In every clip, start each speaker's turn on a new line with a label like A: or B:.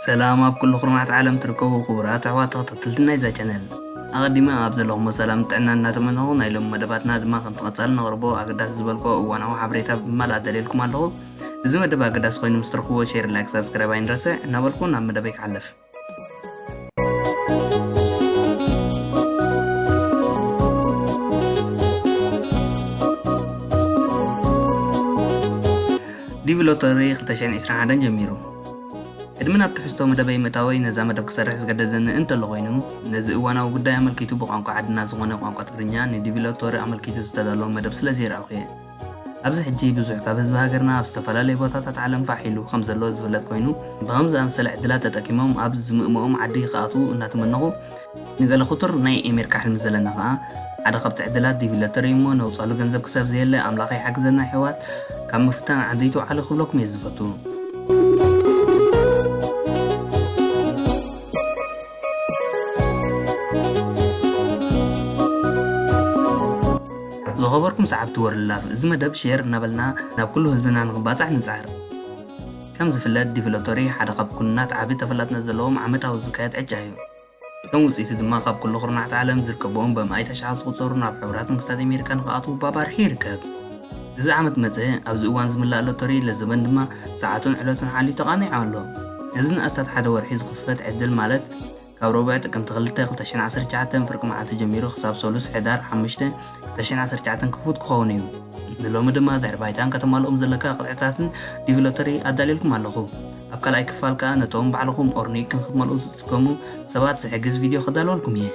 A: ሰላም ኣብ ኩሉ ኩርናዓት ዓለም ትርከቡ ኩቡራት ኣሕዋት ተከታተልቲ ናይዛ ቻነል ኣቀዲመ ኣብ ዘለኩሞ ሰላምን ጥዕናን እናተመነኩ ናይ ሎሚ መደባትና ድማ ከምቲ ቀጻሊ ነቅርቦ ኣገዳሲ ዝበልክዎ እዋናዊ ሓበሬታ ብምባል ኣዳልየልኩም ኣለኩ እዚ መደብ ኣገዳሲ ኮይኑ ምስ ትረክብዎ ሼር ላይክ ሳብስክራይብ ኣይንረስዕ እናበልኩ ናብ መደበይ ክሓልፍ ዲቪ ሎተሪ 2021 ጀሚሩ ቅድሚ ናብ ትሕዝቶ መደበይ ምእታወይ ነዛ መደብ ክሰርሕ ዝገደደኒ እንተሎ ኮይኑ ነዚ እዋናዊ ጉዳይ ኣመልኪቱ ብቋንቋ ዓድና ዝኾነ ቋንቋ ትግርኛ ንዲቪ ሎቶሪ ኣመልኪቱ ዝተዳለወ መደብ ስለዘይረኣኹ እየ። ኣብዚ ሕጂ ብዙሕ ካብ ህዝቢ ሃገርና ኣብ ዝተፈላለዩ ቦታታት ዓለም ፋሕ ኢሉ ከምዘሎ ዝፍለጥ ኮይኑ ብኸምዚ ዝኣመሰለ ዕድላት ተጠቂሞም ኣብ ዝምእምኦም ዓዲ ክኣትዉ እናተመነኹ ንገለ ክቱር ናይ ኤሜርካ ሕልሚ ዘለና ከኣ ሓደ ካብቲ ዕድላት ዲቪ ለተሪ እዩሞ ነውጻሉ ገንዘብ ክሳብ ዘየለ ኣምላኽ ይሓግዘና የሕዋት ካብ ምፍታን ዓዲ ኣይትውዓሉ ክብለኩም እየ ዝፈቱ። ዝኸበርኩም ሰዓብቲ ወርልድ ላቭ እዚ መደብ ሼር እናበልና ናብ ኩሉ ህዝብና ንክባፃሕ ንፅዕር ከም ዝፍለጥ ዲቨሎተሪ ሓደ ካብ ኩናት ዓቢ ተፈላጥነት ዘለዎም ዓመታዊ ዝካየድ ዕጫ እዩ እቶም ውጽኢት ድማ ካብ ኩሉ ኩርናዓት ዓለም ዝርከብዎም በማኢት ኣሽሓት ዝቑጸሩ ናብ ሕቡራት መንግስታት ኣሜሪካ ንክኣትዉ ባባርሒ ይርከብ። እዚ ዓመት መጸ ኣብዚ እዋን ዝምላእ ሎቶሪ ለዘበን ድማ ሰዓቱን ዕለቱን ሓልዩ ተቓኒዑ ኣሎ። ነዚ ንኣስታት ሓደ ወርሒ ዝኽፈት ዕድል ማለት ካብ ረቡዕ ጥቅምቲ ክልተ ክልተ ሽሕን ዓሰርተ ትሽዓተን ፍርቂ መዓልቲ ጀሚሩ ክሳብ ሰሉስ ሕዳር ሓሙሽተ ክልተ ሽሕን ዓሰርተ ትሽዓተን ክፉት ክኸውን እዩ። ንሎሚ ድማ ድሕሪ ባይታን ከተማልኦም ዘለካ ቅጥዕታትን ዲቪ ሎተሪ ኣዳልየልኩም ኣለኹ። ኣብ ካልኣይ ክፋል ከኣ ነቶም ባዕልኹም ኦርኒክ ክንክትመልኡ ዝጽገሙ ሰባት ዝሕግዝ ቪድዮ ከዳልወልኩም እየ።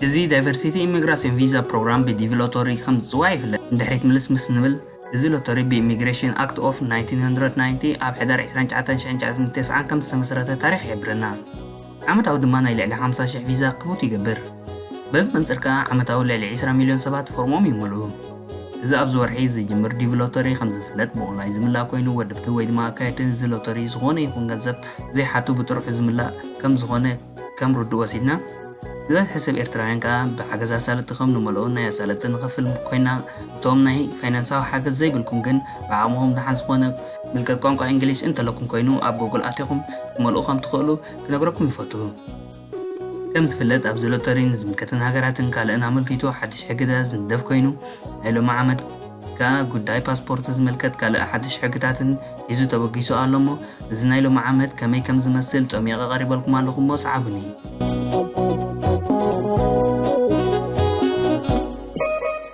A: እዚ ዳይቨርሲቲ ኢሚግራሲዮን ቪዛ ፕሮግራም ብዲቪ ሎተሪ ከም ዝፅዋዕ ይፍለጥ ንድሕሪት ምልስ ምስ ንብል እዚ ሎተሪ ብኢሚግሬሽን ኣክት ኦፍ 1990 ኣብ ሕዳር 29 1990 ከም ዝተመስረተ ታሪክ ይሕብረና ዓመታዊ ድማ ናይ ልዕሊ ሓምሳ ሽሕ ቪዛ ክፉት ይገብር። በዚ መንጽር ከኣ ዓመታዊ ልዕሊ ዕስራ ሚልዮን ሰባት ፎርሞም ይመልኡ። እዚ ኣብዚ ወርሒ ዝጅምር ዲቪ ሎተሪ ከም ዝፍለጥ ብኦንላይን ዝምላእ ኮይኑ ወድብቲ ወይ ድማ ኣካየድቲ እዚ ሎተሪ ዝኾነ ይኹን ገንዘብ ዘይሓቱ ብጥርሑ ዝምላእ ከም ዝኾነ ከም ርዱእ ወሲድና ዝበዝሐ ሰብ ኤርትራውያን ከኣ ብሓገዝ ኣሳለጥቲ ከም ንመልኦ ናይ ኣሳለጥቲ ንኸፍል ኮይና እቶም ናይ ፋይናንሳዊ ሓገዝ ዘይብልኩም ግን ብዓቕምኹም ደሓን ዝኾነ ምልከት ቋንቋ እንግሊዝ እንተለኩም ኮይኑ ኣብ ጎግል ኣቲኹም ክትመልኡ ከም ትኽእሉ ክነግረኩም ይፈቱ። ከም ዝፍለጥ ኣብዚ ሎተሪ ንዝምልከተን ሃገራትን ካልእን ኣመልኪቱ ሓድሽ ሕግታት ዝንደፍ ኮይኑ ናይ ሎሚ ዓመት ከኣ ጉዳይ ፓስፖርት ዝምልከት ካልእ ሓድሽ ሕግታትን ሒዙ ተበጊሱ ኣሎ እሞ እዚ ናይ ሎሚ ዓመት ከመይ ከም ዝመስል ጾሚቐ ቀሪበልኩም ኣለኹ እሞ ሰዓቡኒ።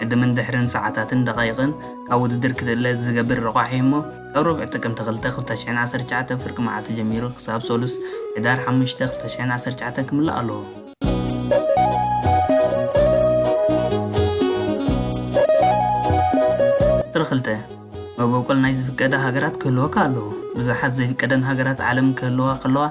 A: ቅድምን ድሕርን ሰዓታትን ደቓይቕን ካብ ውድድር ክትእለ ዝገብር ረቋሒ እሞ ካብ ረቡዕ ጥቅምቲ ክልተ ክልተ ሽሕን ዓሰርተ ትሽዓተን ፍርቂ መዓልቲ ጀሚሩ ክሳብ ሰሉስ ሕዳር ሓሙሽተ ክልተ ሽሕን ዓሰርተ ትሽዓተን ክምላእ ኣለዎ። ቁጽሪ ክልተ መበቆል ናይ ዝፍቀደ ሃገራት ክህልወካ ኣለዎ። ብዙሓት ዘይፍቀደን ሃገራት ዓለም ክህልዋ ከለዋ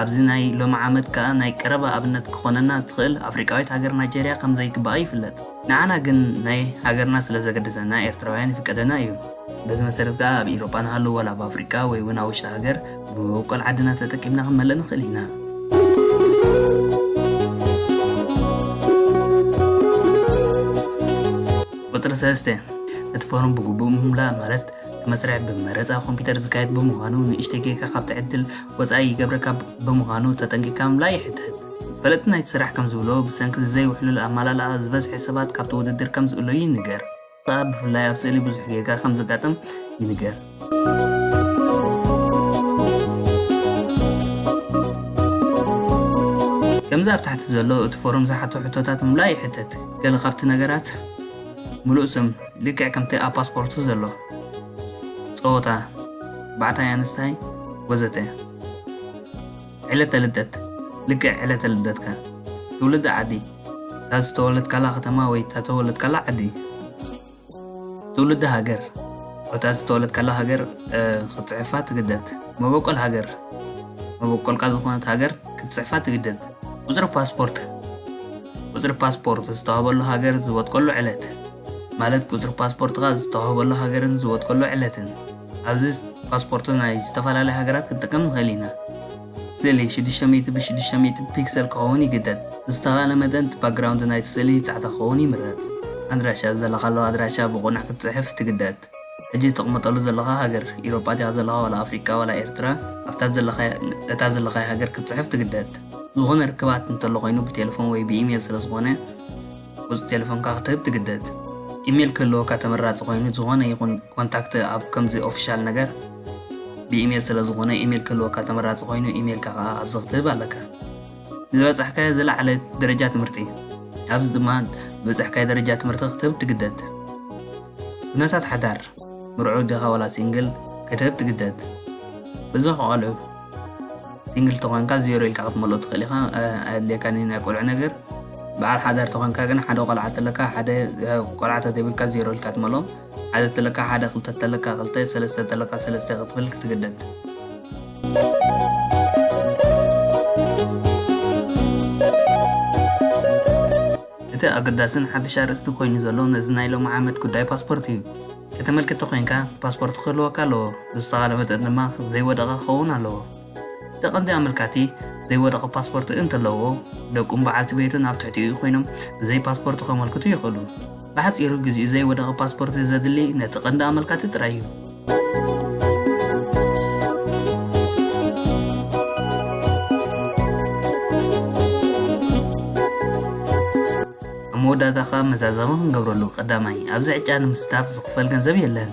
A: ኣብዚ ናይ ሎሚ ዓመት ከኣ ናይ ቀረባ ኣብነት ክኾነና ዝኽእል ኣፍሪቃዊት ሃገር ናይጀርያ ከም ዘይግባኣ ይፍለጥ። ንዓና ግን ናይ ሃገርና ስለ ዘገድሰና ኤርትራውያን ይፍቀደና እዩ። በዚ መሰረት ከኣ ኣብ ኢሮጳ ንሃሉ ወላ ኣብ ኣፍሪቃ ወይ ውን ኣብ ውሽጢ ሃገር ብመበቆል ዓድና ተጠቂምና ክንመልእ ንኽእል ኢና። ቁጽሪ ሰለስተ፣ እቲ ፎርም ብግቡእ ምምላእ ማለት እቲ መስርሕ ብመረጻ ኮምፒተር ዝካየድ ብምዃኑ ንእሽተይ ጌጋ ካብቲ ዕድል ወጻኢ ይገብረካ ብምዃኑ ተጠንቂቕካ ምምላእ ይሕተት። ፈለጥቲ ናይቲ ስራሕ ከም ዝብልዎ፣ ብሰንኪ እዚ ዘይውሕሉል ኣመላልኣ፣ ዝበዝሐ ሰባት ካብቲ ውድድር ከም ዝእለዩ ይንገር። እዚ ኸኣ ብፍላይ ኣብ ስእሊ ብዙሕ ጌጋ ከም ዘጋጥም ይንገር። ከምዚ ኣብ ታሕቲ ዘሎ እቲ ፎርም ዝሓቶ ሕቶታት ምምላእ ይሕተት። ገለ ካብቲ ነገራት፣ ምሉእ ስም፣ ልክዕ ከምቲ ኣብ ፓስፖርቱ ዘሎ፣ ጸወታ፣ ተባዕታይ ኣንስታይ፣ ወዘተ። ዕለተ ልደት ልክዕ ዕለተ ልደትካ ትውልዲ ዓዲ እታ ዝተወለድካላ ከተማ ወይ እታ ተወለድካላ ዓዲ ትውልዲ ሃገር እታ ዝተወለድካላ ሃገር ክትፅሕፋ ትግደድ መበቆል ሃገር መበቆልካ ዝኾነት ሃገር ክትፅሕፋ ትግደድ ቁፅሪ ፓስፖርት ቁፅሪ ፓስፖርት ዝተዋህበሉ ሃገር ዝወጥቀሉ ዕለት ማለት ቁፅሪ ፓስፖርትካ ዝተዋህበሉ ሃገርን ዝወጥቀሉ ዕለትን ኣብዚ ፓስፖርት ናይ ዝተፈላለያ ሃገራት ክንጥቀም ንኽእል ኢና። ስእሊ ሽዱሽተ ሚእቲ ብ ሽዱሽተ ሚእቲ ፒክሰል ክኸውን ይግደድ። ብዝተኻእለ መጠን እቲ ባክግራውንድ ናይቲ ስእሊ ጻዕዳ ክኸውን ይምረጽ። ኣድራሻ፣ ዘለኻሉ ኣድራሻ ብቕኑዕ ክትጽሕፍ ትግደድ። ሕጂ እተቕምጠሉ ዘለኻ ሃገር፣ ኢሮጳ ዲኻ ዘለኻ ዋላ ኣፍሪቃ ዋላ ኤርትራ፣ ኣብታ እታ ዘለኻያ ሃገር ክትጽሕፍ ትግደድ። ዝኾነ ርክባት እንተሎ ኮይኑ ብቴለፎን ወይ ብኢሜል ስለዝኾነ፣ ቁጽሪ ቴለፎንካ ክትህብ ትግደድ። ኢሜል ክህልወካ ተመራጺ ኮይኑ ዝኾነ ይኹን ኮንታክት ኣብ ከምዚ ኦፊሻል ነገር ብኢሜል ስለ ዝኾነ ኢሜል ክህልወካ ተመራጺ ኮይኑ ኢሜልካ ከኣ ኣብዚ ክትህብ ኣለካ። ንዝበጻሕካዮ ዝለዓለ ደረጃ ትምህርቲ ኣብዚ ድማ ዝበጻሕካዮ ደረጃ ትምህርቲ ክትህብ ትግደድ። ኩነታት ሓዳር ምርዑው ዲኻ ዋላ ሲንግል ክትህብ ትግደድ። በዚ ከቃልዑ። ሲንግል ተኾንካ ዜሮ ኢልካ ክትመልኦ ትኽእል ኢኻ ኣየድልየካን እዩ ናይ ቆልዑ ነገር በዓል ሓዳር ተኾንካ ግን ሓደ ቆልዓ ተለካ ሓደ ቆልዓ ተተብልካ ዜሮ ኢልካ ትመልኦ ሓደ ተለካ ሓደ ክልተ ተለካ ክልተ ሰለስተ ተለካ ሰለስተ ክትብል ክትግደድ እቲ ኣገዳስን ሓድሽ ኣርእስቲ ኮይኑ ዘሎ ነዚ ናይ ሎሚ ዓመት ጉዳይ ፓስፖርት እዩ። ከተመልክት ተኾይንካ ፓስፖርት ክህልወካ ኣለዎ፣ ብዝተኻለ መጠን ድማ ዘይወደቐ ክኸውን ኣለዎ። እቲ ቀንዲ ኣመልካቲ ዘይወደቐ ፓስፖርት እንተለዎ፣ ደቁን በዓልቲ ቤቱን ኣብ ትሕቲኡ ኮይኖም ብዘይ ፓስፖርት ከመልክቱ ይኽእሉ። ብሓጺሩ ግዜኡ ዘይወደቐ ፓስፖርት ዘድሊ ነቲ ቀንዲ ኣመልካቲ ጥራይ እዩ። ኣብ መወዳእታ ከኣ መዛዘሚ ክንገብረሉ ቀዳማይ ኣብዚ ዕጫ ንምስታፍ ዝኽፈል ገንዘብ የለን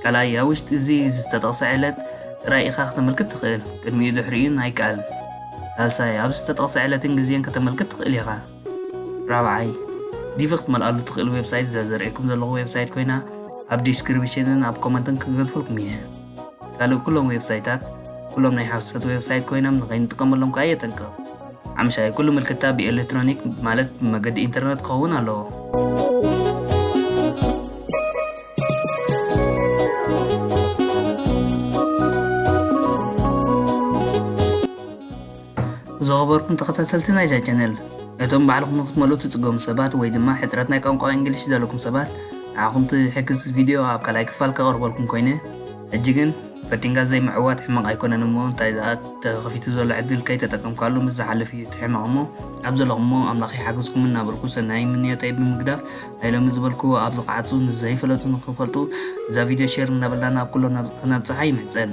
A: ካልኣይ ኣብ ውሽጢ እዚ ዝተጠቕሰ ዕለት ጥራይ ኢኻ ከተመልክት ትኽእል ቅድሚኡ ድሕሪኡን ኣይከኣልን ሳልሳይ ኣብ ዝተጠቕሰ ዕለትን ግዜን ከተመልክት ትኽእል ኢኻ ራብዓይ፣ ዲቪ ክትመልኣሉ ትኽእል ዌብሳይት እዛ ዘርእየኩም ዘለኹ ዌብሳይት ኮይና ኣብ ዲስክሪፕሽንን ኣብ ኮመንትን ክገድፈልኩም እየ። ካልእ ኩሎም ዌብሳይታት ኩሎም ናይ ሓሶት ዌብሳይት ኮይኖም ንኸይንጥቀመሎም ከዓ የጠንቅቕ። ሓምሻይ ኩሉ ምልክታ ብኤሌክትሮኒክ ማለት ብመገዲ ኢንተርነት ክኸውን ኣለዎ። ዝኸበርኩም ተኸታተልቲ ናይዛ ቻነል እቶም ባዕልኹም ንክትመልኡ ትጽገሙ ሰባት ወይ ድማ ሕጽረት ናይ ቋንቋ እንግሊሽ ዘለኩም ሰባት ንዓኹም ትሕግዝ ቪድዮ ኣብ ካልኣይ ክፋል ከቕርበልኩም ኮይነ ሕጂ ግን ፈቲንካ ዘይምዕዋት ሕመቕ ኣይኮነን እሞ እንታይ ደኣ ተኸፊቱ ዘሎ ዕድል ከይተጠቀምካሉ ምስ ዝሓልፍ እዩ እቲ ሕመቕ እሞ ኣብ ዘለኹሞ ኣምላኽ ይሓግዝኩም እናበልኩ ሰናይ ምንዮተይ ብምግዳፍ ናይ ሎሚ ዝበልክዎ ኣብ ዝቕዓጹ ንዘይፈለጡ ንክፈልጡ እዛ ቪድዮ ሼር እናበልና ናብ ኩሎም ናብ ከነብጽሓ ይምሕጸን